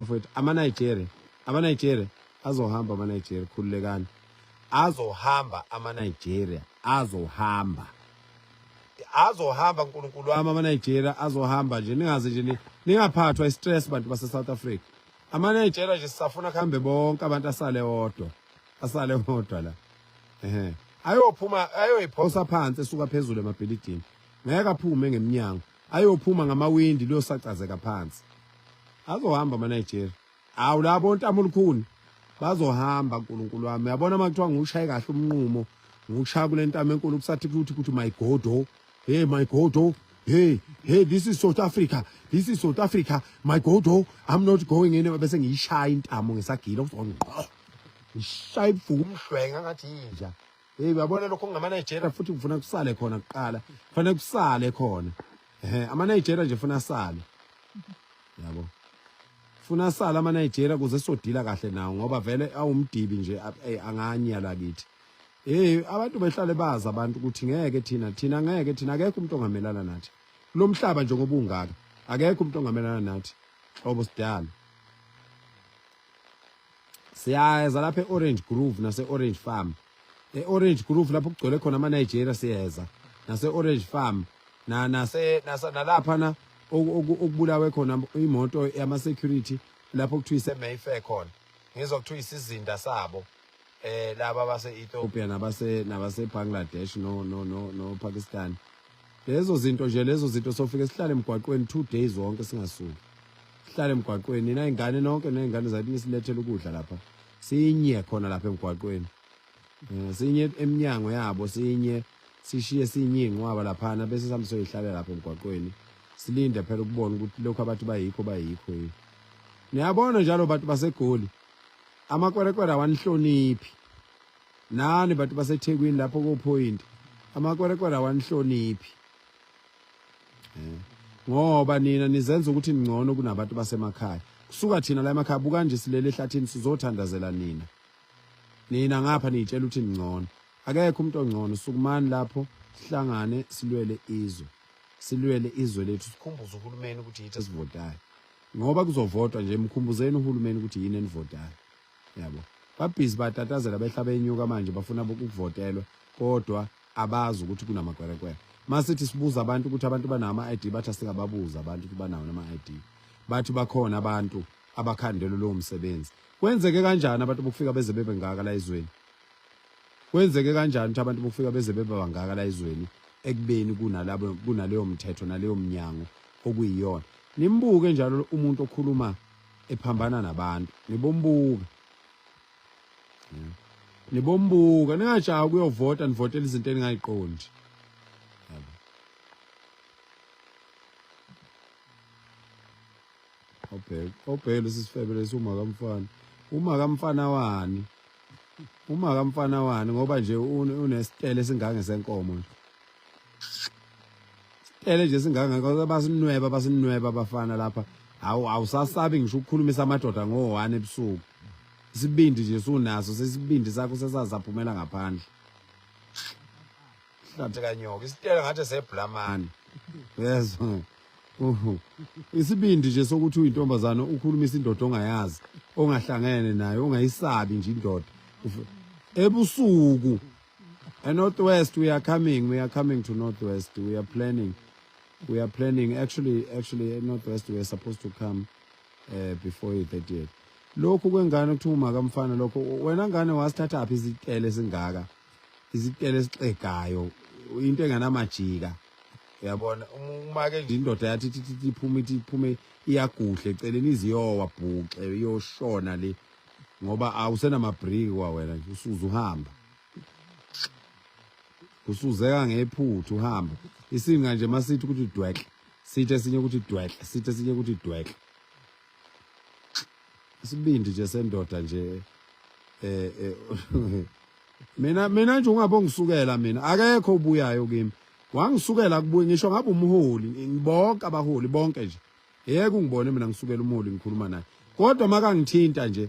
mfowethu amanigeria amanigeria azohamba amanigeria khululekani azohamba amanigeria azohamba azohamba nkulunkulu wami amanigeria azohamba nje ningaze nje ningaphathwa istress bantu base-south africa amanigeria nje sisafuna kuhambe bonke abantu asale odwa asale odwa la ehe ayophuma ayoyiphosa phansi esuka phezulu emabhilidini ngeke aphume ngemnyango ayophuma ngamawindi luyosacazeka phansi azohamba amaNigeria awu labo ontamulukhuni bazohamba uNkulunkulu wami yabona uma kuthiwa ngiwushaye kahle umnqumo ngiwushaya kule ntamo enkulu kusathi kuthi kuthi my godo oh. hey my godo oh. hey hey this is South Africa this is South Africa my godo oh. I'm not going anywhere bese ngiyishaya intamo ngesagila uzongqo ngishaya ibuhlungu umhlwenga ngathi yinja Hey uyabona lokho ngama Nigeria futhi kufuna kusale khona kuqala. Kufanele kusale khona. Ehe ama Nigeria nje funa asale. Yabo. Funa asale ama Nigeria kuze sodila kahle nawo ngoba vele awumdibi nje anganya la kithi. Hey abantu behlale bazi abantu ukuthi ngeke thina thina ngeke thina akekho umuntu ongamelana nathi. Lomhlaba nje ngobungaka akekho umuntu ongamelana nathi. Xobo sidala. siyeza lapha e-orange groove nase-orange farm e-orange groove lapho kugcwele khona ama-nigeria siyeza nase-orange farm nalaphana okubulawe khona imoto yama-security lapho kuthiwa ise-mayfair khona ngizwa kuthiwa isizinda sabo eh laba base Ethiopia nabase nabase Bangladesh no no no no Pakistan lezo zinto nje lezo zinto sofike sihlale emgwaqweni two days wonke singasuki sihlale emgwaqweni nina ingane nonke nezingane zathi nisilethele ukudla lapha sinye khona lapha emgwaqweni eh, sinye eminyango yabo sinye sishiye sinye inqwaba lapha na bese samsoyihlale lapha emgwaqweni silinde phela ukubona ukuthi lokho abathi bayikho bayikho yini niyabona njalo bantu basegoli amakwerekwere awanihloniphi nani bantu basethekwini lapho kophoyinti amakwerekwere awanihloniphi eh, ngoba nina nizenza ukuthi ningcono kunabantu basemakhaya kusuka thina la emakhaya buka nje silele ehlathini sizothandazela nina nina ngapha niyitshela ukuthi ningcono akekho umuntu ongcono sukumani lapho sihlangane silwele izwe silwele izwe lethu sikhumbuze uhulumeni ukuthi yithi esivotayo ngoba kuzovotwa nje mkhumbuzeni uhulumeni ukuthi yini enivotayo yabo babhizi batatazela behlaba enyuka manje bafuna ukuvotelwa kodwa abazi ukuthi kunamakwelekwele masithi sibuza abantu ukuthi abantu banama ID bathi singababuza abantu ukuthi banawo nama ID bathi bakhona abantu abakhandele lowo msebenzi kwenzeke kanjani abantu bokufika beze bebe ngaka la izweni kwenzeke kanjani ukuthi abantu bofika beze beba bangaka la izweni ekubeni kunalabo kunaleyo mthetho naleyo mnyango okuyiyona nimbuke njalo umuntu okhuluma ephambana nabantu nibombuka nibombuka ningajaha kuyovota nivotela izinto eningayiqondi obheke obheke lesi sifebe lesi uma kamfana uma kamfana wani uma kamfana wani ngoba nje unesitele singange senkomo nje ele nje singanga ngoba basinweba basinweba abafana lapha awu awusasabi ngisho ukukhulumisa amadoda ngo-one ebusuku isibindi nje sunaso sesibindi sakho sesazaphumela ngaphandle hlathi kanyoka isitele ngathi sebhulamani yezwa Uhu. Isibindi nje sokuthi uyintombazane ukhulumisa indoda ongayazi, ongahlangene nayo, ongayisabi nje indoda. Ufe- Ebusuku. E North West we are coming, we are coming to North West. We are planning. We are planning actually actually e North West we are supposed to come uh, before the 30th. Lokhu kwengane kuthiwa umakamfana lokho wena ngane wasithathaphi izitele singaka. isitele esixegayo into enganamajika uyabona uma ke nje indoda yathi thithi iphume ithi iphume iyaguhle eceleni iziyowa bhuxe iyoshona le ngoba awusenamabriki kwa wena nje usuze uhamba usuzeka ngephuthu uhamba isinga nje masithi ukuthi dwehle sithi esinye ukuthi dwehle sithi esinye ukuthi dwehle isibindi nje sendoda nje eh, eh mina mina nje ungabe ngisukela mina akekho ubuyayo kimi wangisukela kubuye ngisho ngabe umholi ngibonke abaholi bonke nje yeke ungibone mina ngisukela umholi ngikhuluma naye kodwa makangithinta nje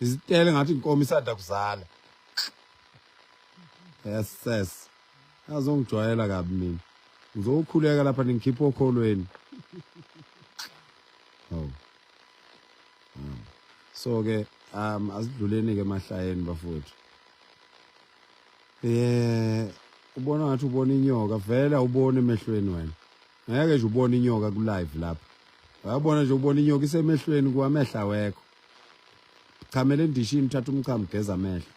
izitele ngathi inkomo isada kuzala yes ses azongijwayela kabi mina ngizokhuleka lapha ningikhipha okholweni oh so ke um asidluleni ke emahlayeni bafowethu eh ubona ngathi ubona inyoka vele awuboni emehlweni wena ngeke nje ubone inyoka ku live lapha wayabona nje ubona inyoka isemehlweni kwamehla wekho chamela endishini thatha umchamo geza amehlo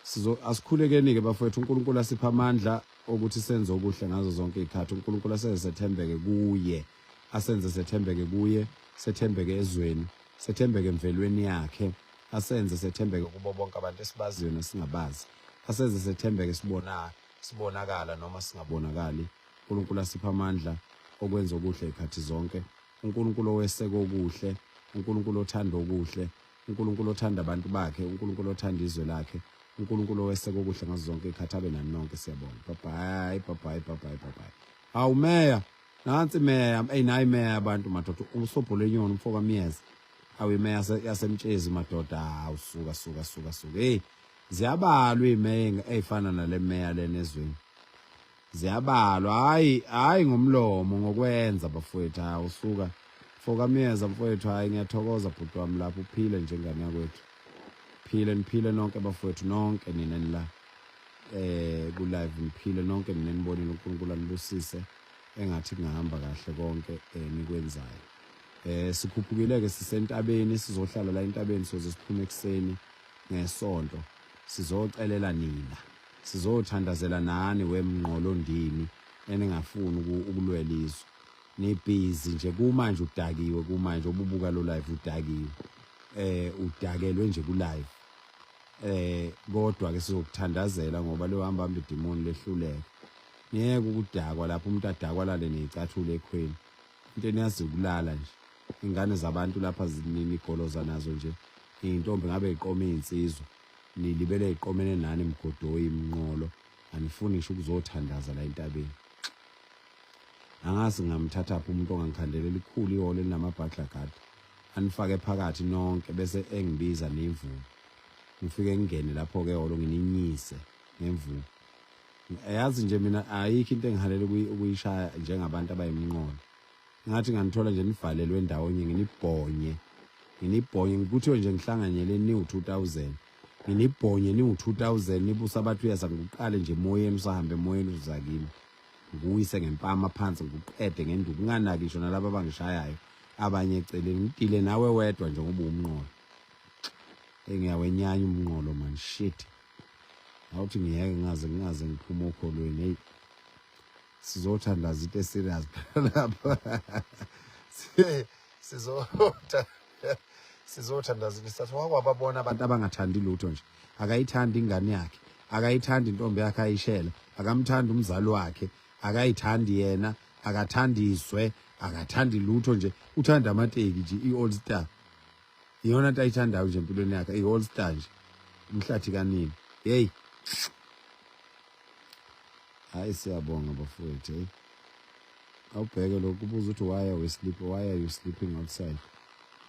sizo asikhulekeni ke bafowethu uNkulunkulu asipha amandla okuthi senze okuhle ngazo zonke izikhathi uNkulunkulu asenze sethembeke kuye asenze sethembeke kuye sethembeke ezweni sethembeke emvelweni yakhe asenze sethembeke kubo bonke abantu esibaziyo nesingabazi asenze sethembeke sibona sibonakala noma singabonakali uNkulunkulu asipha amandla okwenza okuhle ikhathi zonke uNkulunkulu oweseka okuhle uNkulunkulu othanda okuhle uNkulunkulu othanda abantu bakhe uNkulunkulu othanda izwe lakhe uNkulunkulu oweseka okuhle ngazo zonke ikhathi abe nani nonke siyabonga bye bye bye bye bye bye bye hawu meya nansi meya eyi nayi meya abantu madoda usobhola enyoni umfoka myeza awu imeya yasemtshezi madoda hawu suka suka suka suka eyi ziyabalwa iy'meya ey'fana nale meya lena ezweni ziyabalwa hayi hayi ngomlomo ngokwenza bafowethu ha usuka foka myeza mfowethu hayi ngiyathokoza bhuti wami lapho uphile njengane yakwethu phile niphile nonke bafowethu nonke nina nila eh ku live niphile nonke nina nibonile uNkulunkulu anibusise engathi kungahamba kahle konke eh, nikwenzayo eh sikhuphukile ke sisentabeni sizohlala la entabeni soze siphume ekseni ngesonto sizocelela nina Sizothandazela nani we Mnqolo ndini eningafuni ukulwela izwe. Nibhizi nje kumanje udakiwe kumanje obubuka lo live udakiwe. Eh udakelwe nje ku live. Eh kodwa ke sizokuthandazela ngoba lo hamba hamba idemon lehluleke. Ngeke ukudakwa lapho umuntu adakwa lale nezicathule ekhweni. Into eniyazi ukulala nje. Ingane zabantu lapha zinini igoloza nazo nje. Intombi ngabe iqoma izinsizwa. Nilibele iqomene nani mgodoyi mnqolo anifuni ngisho ukuzothandaza la entabeni. Angazi ngamthathaphi umuntu ongangikhandela elikhulu ihole linamabhadla gadi anifake phakathi nonke bese engibiza nemvubu. Ngifike ngingene lapho ke holo ngininyise ngemvubu. Yazi nje mina ayikho into engihalela ukuyishaya njengabantu abayimnqondo. ngathi nganithola nje nivalelwe ndawonye nginibhonye nginibhonye ngikuthiwe nje ngihlanganyele niwu-2000 nginibhonye niwu-2000 nibusa abathi uyeza ngikuqale nje emoyeni usahambe emoyeni uzuza kimi ngikuyise ngempama phansi ngikuqede ngenduku unganaki ngisho nalaba abangishayayo abanye eceleni ngidile nawe wedwa njengoba umnqolo engiyawenyanya umnqolo man shit awuthi ngiyeke ngaze ngaze ngiphume okholweni eyi sizothandaza into eserious lapha sizotha sizothandaza into sathi wakwababona abantu abangathandi lutho nje akayithandi ingane yakhe akayithandi intombi yakhe ayishela akamthandi umzali wakhe akayithandi yena akathandi izwe akathandi lutho nje uthanda amateki nje i-all star iyona nto ayithandayo nje empilweni yakhe i-all star nje umhlathi kanini yeyi hayi siyabonga bafowethu heyi awubheke lokhu kubuza ukuthi why are we sleeping why are you sleeping outside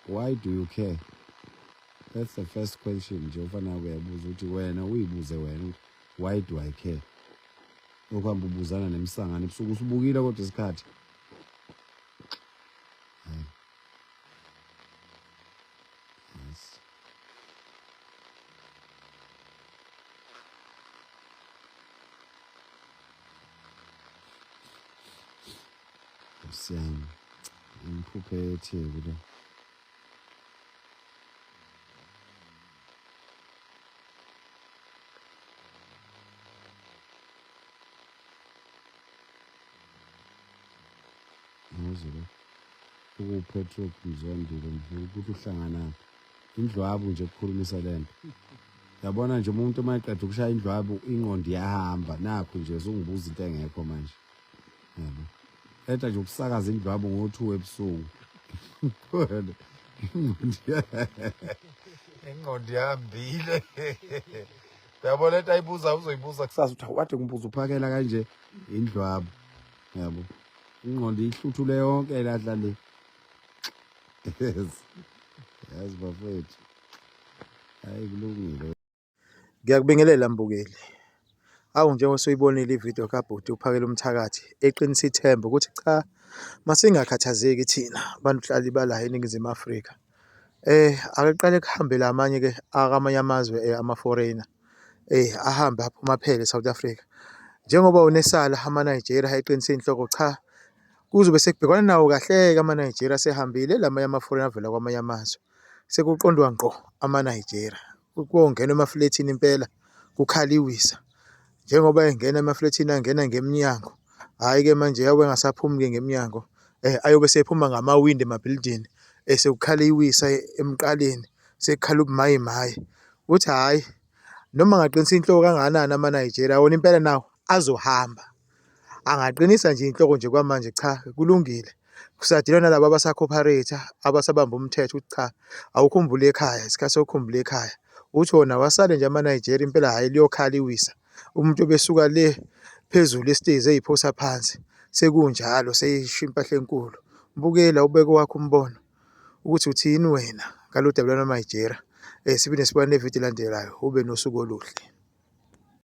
why do you care that's the first question nje ofana kuyabuza ukuthi wena uyibuze wena ukuthi why do i care okuhamba ubuzana nemsangane ebusuku usubukile kodwa isikhathi Nice. Siyami. Ngiphuphe eTheku le. ngizile ukuwupatrick mzondile ngifuna ukuthi uhlanganaphi indlwabu nje kukhulumisa le nto yabona nje umuntu uma eqeda ukushaya indlwabu ingqondo iyahamba nakho nje sungibuza into engekho manje yabo qeda nje ukusakaza indlwabu ngo-two ebusuku ingqondo ihambile yabo le nto ayibuza uzoyibuza kusasa uthi awukade kumbuza uphakela kanje indlwabo yabo ingqondo ihluthule yonke lahla le yes yazi bafethu hayi kulungile ngiyakubingelela mbukeli awu njengoba soyibonile ividiyo kabhuti uphakela umthakathi eqinisa ithemba ukuthi cha masingakhathazeki thina bantu hlali bala eningizimu afrika Ake kuqale kuhambe la amanye-ke akwamanye amazwe ama-foreigner ahambe aphuma aphele e-South Africa, njengoba wona esala ama-Nigeria eqinisile inhloko cha kuzobe sekubhekwana nawo kahle-ke ama-Nigeria asehambile, elamanye ama-foreign avela kwamanye amazwe sekuqondwa ngqo ama-Nigeria. Kongenwa emaflethini impela kukhaliwe iwisa, njengoba engena emaflethini angena ngemnyango hhayi-ke manje yabe engasaphumi-ke ngemnyango um ayobe sephuma ngamawindi emabhilidini um sekukhala iwisa emqaleni sekukhala ubumayi mayi ukuthi hhayi noma ngaqinisile inhloko kangakanani ama-Nigeria wona impela nawo azohamba Angaqinisa nje inhloko nje kwamanje cha kulungile. Kusadilwa nalabo abasakhoparate abasabamba umthetho ukuthi cha awukhumbule ekhaya isikhathi sokukhumbula ekhaya. Uthi wona wasale nje ama-Nigeria impela hhayi liyokhala iwisa. Umuntu obesuka le phezulu isitezi eyiphosa phansi sekunjalo seyisho impahla enkulu. Bukela ubeke wakho umbono ukuthi uthini wena ngalolu daba lwanaMajera. Um eh, siphinde sibone nevidiyo elandelayo ube nosuku oluhle.